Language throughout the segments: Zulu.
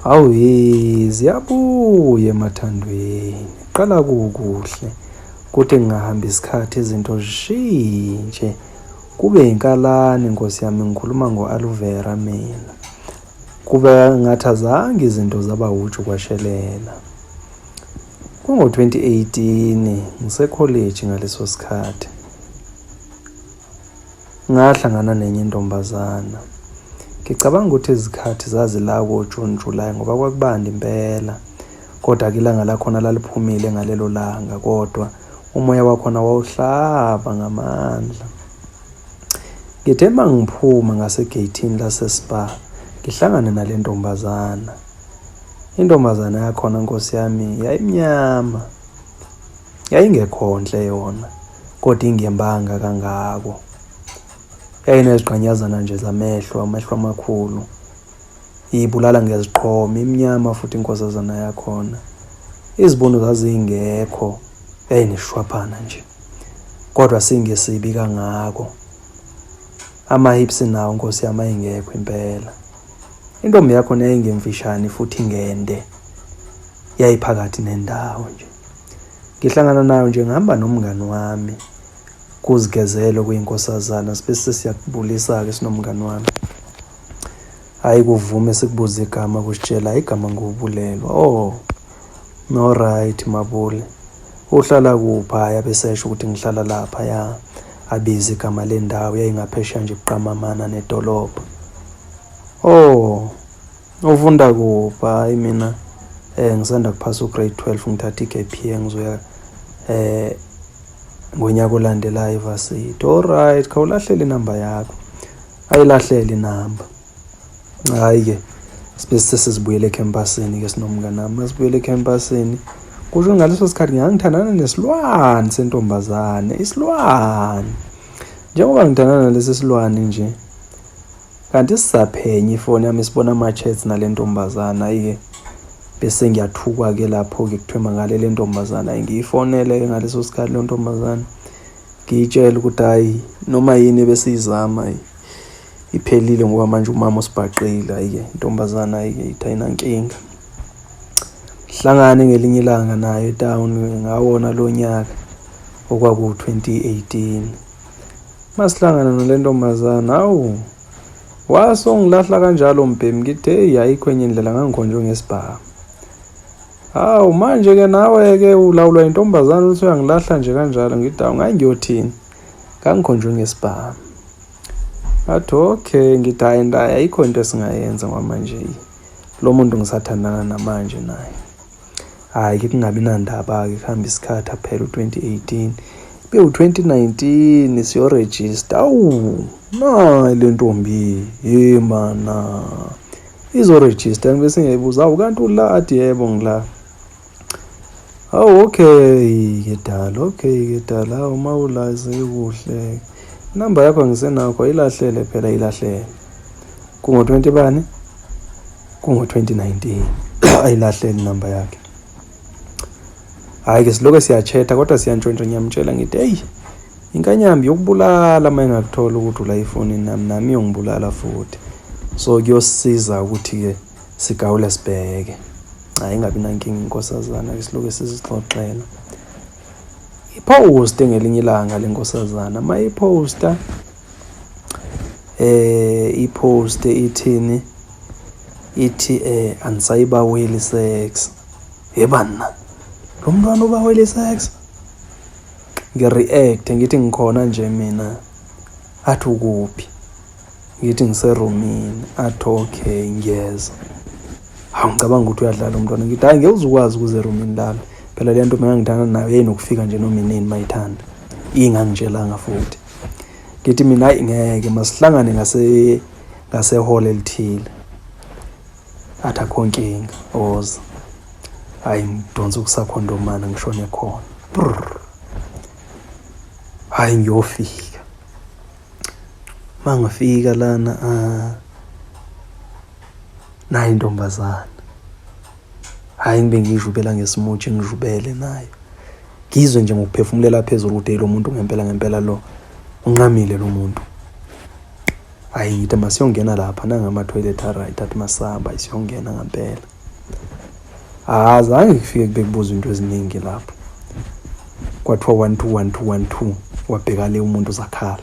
Hawu he ziyabuya emathandweni qala kukuhle kuthi ngingahamba isikhathi izinto zishintshe kube inkalane nkosi yami ngikhuluma ngo-aloe vera mina kube ngathi azange izinto zaba wuju kwashelela Kungo-2018 ngisekholeji ngaleso sikhathi. Ngahlangana nenye intombazana. Ngicabanga ukuthi izikhathi zazila koJuni, July ngoba kwakubanda impela. Kodwa-ke ilanga lakhona laliphumile ngalelo langa kodwa umoya wakhona wawuhlaba ngamandla. Ngithe uma ngiphuma ngasegeyithini laseSpar ngihlangane nale ntombazana. Intombazana yakhona nkosi yami yayimnyama yayingekhonhle yona kodwa ingembanga kangako yayinezigqanyazana nje zamehlo amehlo amakhulu iyibulala ngeziqhoma imnyama futhi inkosazana yakhona izibono zazingekho yayineshwaphana nje kodwa singesibi kangako amahips nawo nkosi yami ayingekho impela Intombi yakho nayingemfishane futhi ngende yayiphakathi nendawo nje. Ngihlangana nayo nje ngihamba nomngani wami kuzigezelo kuyinkosazana sibe sesiyakubulisa-ke sinomngani wami. Hhayi kuvume sikubuze igama kusitshela igama ngubulelwa oh. No right Mabule. Uhlala kuphi? Hhayi abesesho ukuthi ngihlala lapha ya. Abize igama lendawo yayingaphesheya nje buqamamana nedolobha. Oh. Ufunda kuphi? Hhayi mina eh ngisanda kuphasa ugrade 12 ngithatha iGPA ngizoya eh ngonyaka olandelayo ivarsity. All right, khawulahlele inamba yakho. Ayilahlele inamba. Hhayi ke sibe sesizibuyela ekhempasini ke sinomnganami masibuyela ekhempasini kusho ngaleso sikhathi ngangithandana nesilwane sentombazane isilwane njengoba ngithandana nalesi silwane nje kanti sisaphenye ifoni yami sibona ama-chats nale ntombazane ayi-ke bese ngiyathukwa-ke lapho-ke kuthiwe mangale le ntombazane ayi ngiyifonele-ke ngaleso sikhathi leyo ntombazane ngiyitshele ukuthi hhayi noma yini ebesiyizama ayi iphelile ngoba manje umama usibhaqile ayike intombazana ayike ithi ayinankinga hlangane ngelinye ilanga nayo etown ngawona lo nyaka okwaku-2018 masihlangana nale ntombazana awu wase ungilahla kanjalo mbhemi ngithi eyi ayikho enye indlela ngangikhonjwe ngesibhamu hawu manje-ke nawe-ke ulawulwa yintombazane ukuthi uyangilahla nje kanjalo ngithi awu ngangiyothini ngangikhonjwe ngesibhamu ngathi okay ngithi hhayi ndayi ayikho into esingayenza kwamanje lo muntu ngisathandana namanje naye hhayi ke kungabi nandaba-ke kuhambe isikhathi aphela u-2018 be u-2019 siyorejista awu nayi le ntombi ye mana izorejista ngibe sengiyayibuza awu kanti ula athi yebo ngila Awu okay ke dala, okay ke dala uma ulazi kuhle. Inamba yakho ngisenakho ayilahlele phela ilahlele. Kungo 20 bani? Kungo 2019. Ayilahlele inamba yakhe. Hayi ke siloke siyachetha kodwa siyantshontsha ngiyamtshela ngithi hey inkanyambi yokubulala uma ingakuthola ukuthi ula ifoni nami nami yongibulala futhi. So kuyosiza ukuthi ke Sigawula sibheke. Hayi ingabi nankinga inkosazana ke siloke sizixoxela. Ipost ngelinye ilanga lenkosazana mayiposta eh ipost ithini ithi eh andisayibaweli sex yebana lo mntwana ubaweli sex ngireact ngithi ngikhona nje mina athi ukuphi Ngithi ngiserumini athi okay ngiyeza. Hawu ngicabanga ukuthi uyadlala umntwana ngithi hayi ngeke uzukwazi ukuze erumini lami. Phela le nto mina ngithanda nayo yayinokufika nje noma inini mayithanda. Ingangitshelanga futhi. Ngithi mina hayi ngeke masihlangane ngase ngasehall elithile. Athi akho nkinga oza. Hayi ngidonsa ukusakhondomana ngishone khona. Hayi ngiyofika. mangafika lana ah, nayo intombazana hhayi ngibe ngiyijubela ngesimoji ngijubele nayo ngizwe nje ngokuphefumulela phezulu ukuthi lo muntu ngempela ngempela lo unqamile lo muntu hhayi ngithi masiyongena lapha nangamathoyilethi aright athi masihamba siyongena ngampela Ah, zange ngifike kube kubuza into eziningi lapho. Kwathiwa 1 2 1 2 1 2 wabheka le umuntu zakhala.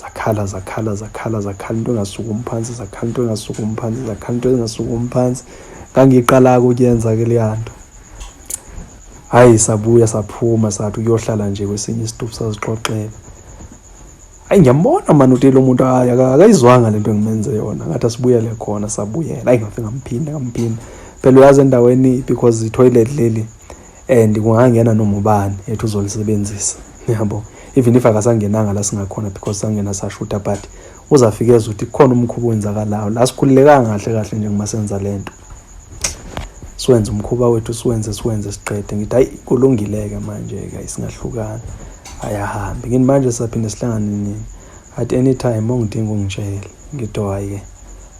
Zakhala zakhala zakhala zakhala into engasukumi phansi zakhala into engasukumi phansi zakhala into engasukumi phansi. Ngangiqala ukuyenza ke leyanto. Hayi sabuya saphuma sathi uyohlala nje kwesinye isitupu sazixoxela. Ayi ngiyambona mani uthi lo muntu hayi akayizwanga lento engimenze yona ngathi asibuyele khona sabuyela ayi ngafe ngamphinda ngamphinda phela uyazi endaweni because i-toilet leli and kungangena noma ubani ethi uzolisebenzisa yabo even if akasangenanga la singakhona because sangena sashutha but uzafike ezwe ukuthi kukhona umkhuba owenzakalayo la sikhululekanga kahle kahle njengoba senza le nto siwenze umkhuba wethu siwenze siwenze siqede ngithi hayi kulungileke manje-ke ayisingahlukana ayahambi ngini manje saphinde sihlangane nini at any time ongidinga ungitshele ngitho hhayi-ke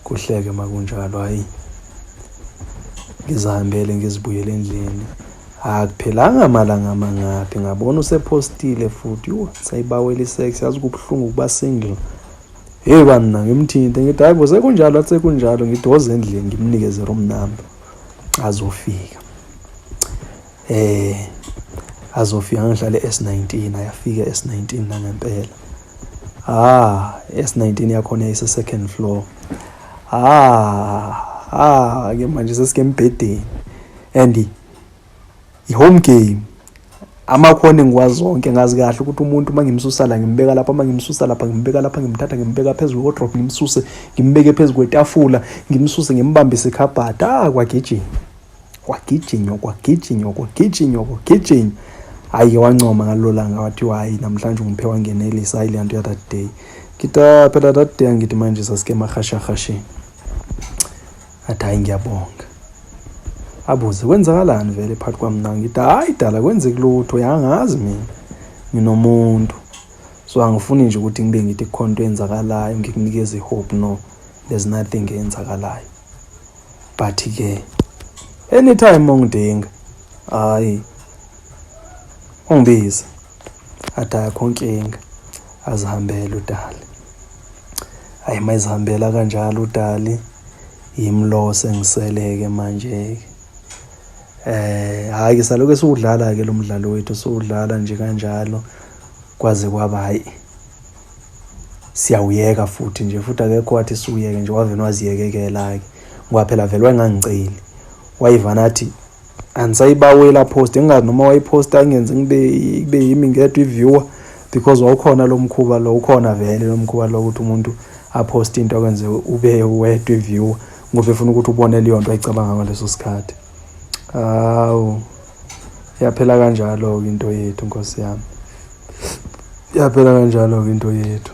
kuhleke makunjalo hhayi ngizihambele ngizibuyele endlini akuphelanga malanga mangaphi ngabona usephostile futhi yho sayibawela isex yazi kubuhlungu ukuba single Hey banna ngimthinte ngithi hayi bo sekunjalo athi sekunjalo ngidoze endlini ngimnikeze room number azofika eh azofika ngihlale S19 ayafika S19 la ngempela ah S19 yakhona ise second floor ah ah ke manje sesike embhedeni and i-home game amakhono engiwazi zonke ngazi kahle ukuthi umuntu uma ngimsusa la ngimbeka lapha uma ngimsusa lapha ngimbeka lapha ngimthatha ngimbeka phezu kwe-wardrobe ngimsuse ngimbeke phezu kwetafula ngimsuse ngimbambise ikhabhada ah kwagijinywa kwagijinywa kwagijinywa kwagijinywa kwagijinywa hhayi-ke wancoma ngalelo langa wathi hhayi namhlanje ungiphe wangenelisa hhayi leya nto ya that day kita phela that day angithi manje sasike emahashahasheni athi hayi ngiyabonga abuze kwenzakalani vele phakathi kwami nawe ngithi hayi dala kwenzeki lutho yangazi mina nginomuntu so angifuni nje ukuthi ngibe ngithi kukhona into eyenzakalayo ngikunikeze i-hope no there's nothing eyenzakalayo but-ke anytime ongidinga hhayi ungibize athi akho nkinga azihambele udali ayi uma izihambela kanjalo udali yimlose ngiseleke manje-ke eh hhayi-ke salokhu esiwudlala-ke lo mdlalo wethu siwudlala nje kanjalo kwaze kwaba hhayi siyawuyeka futhi nje futhi akekho wathi siwuyeke nje wavele waziyekekela-ke ngoba phela vele wayengangiceli wayivana athi andisayibawela post engazi noma wayiposta ingenze ngibe kube yimi ngedwa i-viewer because wawukhona lo mkhuba lo ukhona vele lo mkhuba lo ukuthi umuntu aphoste into akwenze ube wedwa i-viewer ngoba efuna ukuthi ubone leyo nto ayicabanga ngaleso sikhathi hawu yaphela kanjalo-ke into yethu nkosi yami yaphela kanjalo-ke into yethu